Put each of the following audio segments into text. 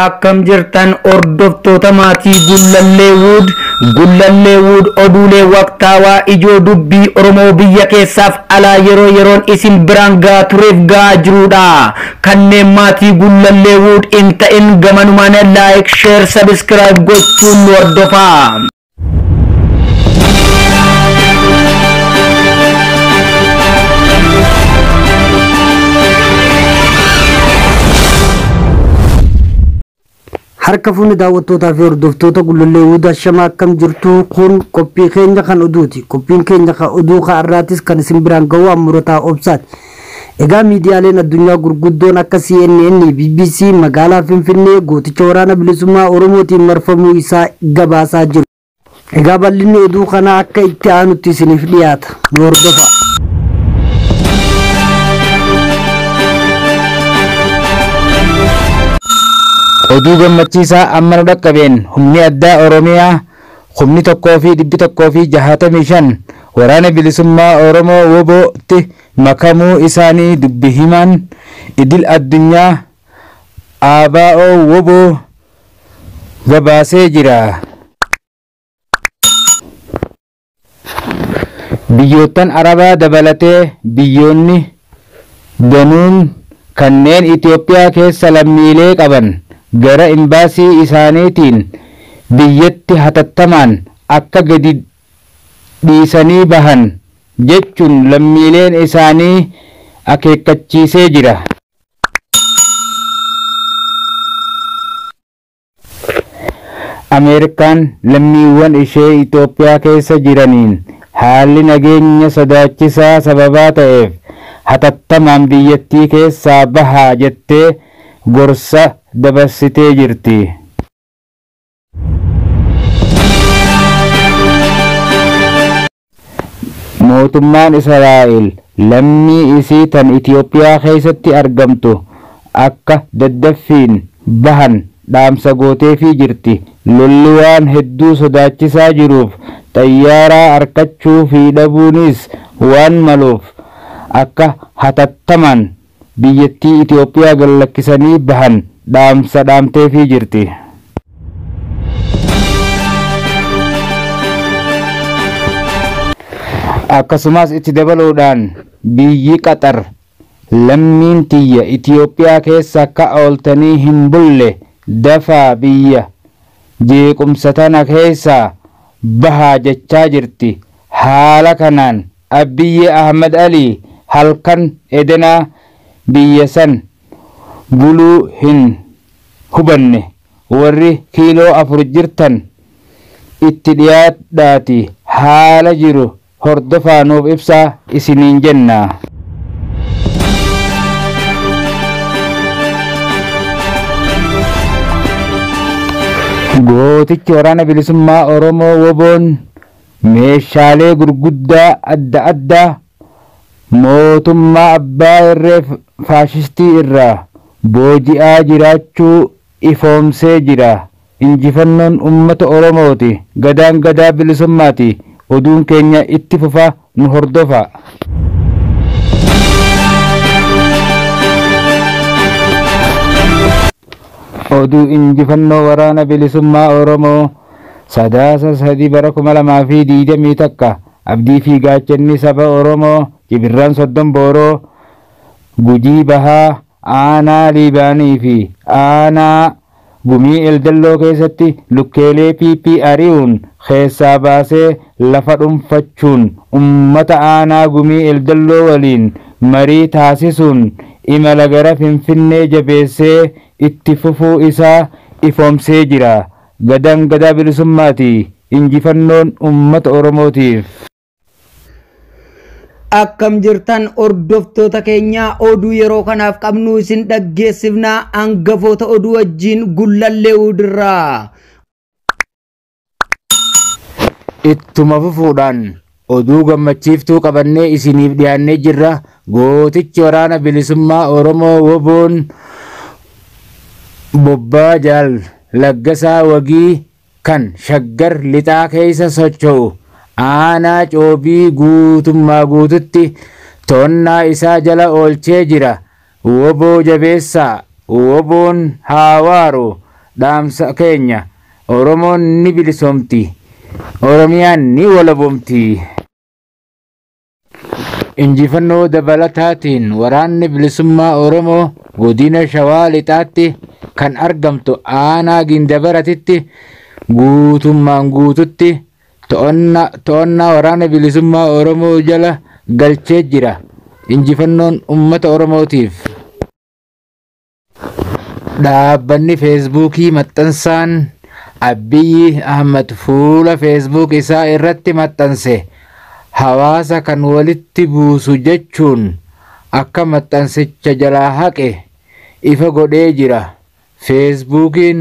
Akkam jirtan hordoftoota maatii Gullallee Wood, Gullallee Wood oduulee waqtaawaa ijoo dubbii Oromoo biyya keessaaf alaa yeroo yeroon isin biraan gahaa tureef gahaa jiruudha. Kanneen maatii Gullallee Wood hin ta'in gamanumaan like, share, subscribe gochuun nu hordofaa. Harka fuunni daawwattootaa fi hordoftoota Gullallee Wuudaa Shamaa akkam jirtu kun qophii keenya kan oduuti. Qophiin keenya kan oduu ka'arraatis kan isin biraan ga'u Ammurotaa Obsaati. Egaa miidiyaaleen addunyaa gurguddoon akka CNN, bbc magaalaa Finfinnee gooticha waraana bilisummaa Oromootiin marfamuu isaa gabaasaa jiru. Egaa bal'inni oduu kanaa akka itti aanutti isiniif dhiyaata. Nu hordofaa. Oduu gammachiisaa amma nu dhaqqabeen humni addaa Oromiyaa kumni 1 fi 165 Waraana Bilisummaa Oromoo, wbo, tti makamuu isaanii dubbi himaan idil addunyaa ABO-wbo gabaasee jira. Biyyoottan Arabaa dabalatee biyyoonni danuun kanneen Itoophiyaa keessa lammiilee qaban gara Imbaasii isaaniitiin biyyatti hatattamaan akka gadi dhiisanii bahan jechuun lammiileen isaanii akeekkachiisee jira. Ameerikaan lammiiwwan ishee Itoophiyaa keessa jiraniin haalli nageenya sodaachisaa sababaa ta'eef hatattamaan biyyattii keessaa bahaa jettee gorsa dabarsitee jirti. Mootummaan Israa'el lammii isii tan Itiyoophiyaa keessatti argamtu akka daddaffiin bahan dhaamsa gooteefii jirti. Lolli waan hedduu sodaachisaa jiruuf xayyaaraa arkachuu fi dhabuuniis waan maluuf akka hatattamaan biyyattii Itoophiyaa gad lakkisanii bahan dhaamsa dhaamteefii jirti. Akkasumas itti dabaluudhaan biyyi Qaxar lammiin tiyya Itoophiyaa keessa akka ooltanii hin bulle dafaa biyya jeequmsa tana keessaa bahaa jechaa jirti. Haala kanaan Abbiyyee Ahmad Ali halkan edenaa biyya san buluu hin hubanne warri kiiloo afur jirtan itti dhiyaadhaati haala jiru hordofaa nuuf ibsaa isiniin jenna. Gootichi Waraana Bilisummaa Oromoo, wbo, Meeshaalee gurguddaa adda addaa mootummaa abbaa irree faashistii irraa booji'aa jiraachuu ifoomsee jira. Injifannoon Ummata Oromooti! Gadaan Gadaa Bilisummaati! Oduun keenya itti fufa nu hordofaa! Oduu Injifannoo Waraana Bilisummaa Oromoo Sadaasa 3 bara 2021 Abdii fi Gaachanni Saba Oromoo Cibirraan Soddon Booroo Gujii Bahaa Aanaa Liibaanii fi Aanaa Gumii Eldelloo keessatti lukkeelee PP ari'uun keessaa baasee lafa dhunfachuun ummata Aanaa Gumii Eldelloo waliin marii taasisuun imala gara Finfinnee jabeessee itti fufuu isaa ifoomsee jira. Gadaan Gadaa Bilisummaati! Injifannoon Uummata Oromootiif! Akkam jirtan hordoftoota keenya oduu yeroo kanaaf qabnu isin dhaggeessifna hangafoota oduu wajjiin gullallee uudirraa. Ittuma fufuudhaan Oduu gammachiiftuu qabannee isiniif dhiyaannee jirra. Gootichi waraana bilisummaa Oromoo woboon bobbaa Jaal Laggasaa Wagii kan Shaggar lixaa keessa socho'u aanaa Coobii guutummaa guututti to'annaa isaa jala oolchee jira. Wbo jabeessaa! Wboon haa waaru! Dhaamsa keenya! Oromoon ni bilisoomti! Oromiyaan ni walabomti! Injifannoo dabalataatiin Waraanni Bilisummaa Oromoo Godina Shawaa Lixaatti kan argamtu Aanaa Gindabaratitti guutummaan guututti to'annaa waraana bilisummaa Oromoo jala galchee jira. Injifannoon uummata Oromootiif. Dhaabbanni Feesbuukii maxxansaan Abiyyi Ahmad fuula Feesbuuk isaa irratti maxxanse hawaasa kan walitti buusu jechuun akka maxxansicha jalaa haqe ifa godhee jira. Feesbuukiin,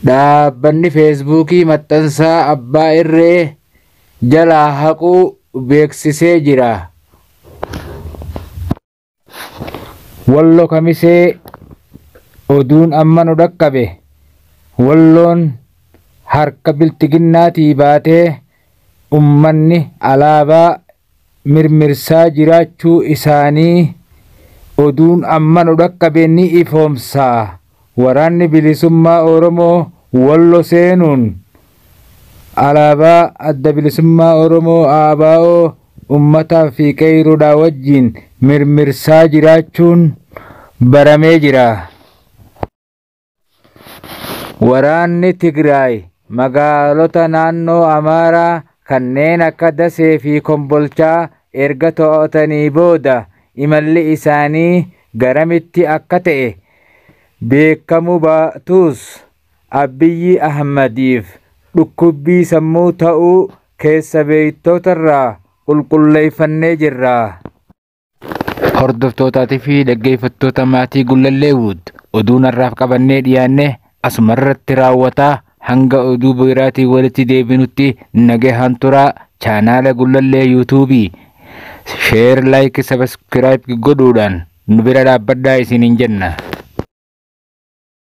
Dhaabbanni Feesbuukii maxxansaa abbaa irree jalaa haquu beeksisee jira. Wallo Kamisee, Oduun amma nu dhaqqabe Walloon harka Bilxiginnaatii baatee ummanni alaabaa mirmirsaa jiraachuu isaanii oduun amma nu dhaqqabe ni ifoomsa. Waraanni Bilisummaa Oromoo Wallo seenuun alaabaa Adda Bilisummaa Oromoo ABO ummataa fi qeeyroodhaa wajjiin mirmirsaa jiraachuun baramee jira. Waraanni Tigraay magaalota naannoo Amaaraa kanneen akka Dasee fi Kombolchaa erga to'atanii booda imalli isaanii garamitti akka ta'e beekamuu baatus Abiyyi Ahmadiif dhukkubbii sammuu ta'uu keessa beektotarraa qulqulleeffannee jirra. Hordoftootaatii fi dhaggeeffattoota maatii Gullalleewud oduun har'aaf qabannee dhiyaanne asuma irratti raawwataa hanga oduu biraatii walitti deebinutti nagahaan turaa chaanaala Gullallee yuutuubii sheer laayik sabaskiraayib godhuudhaan nu bira dhaabbadhaa isiniin jenna.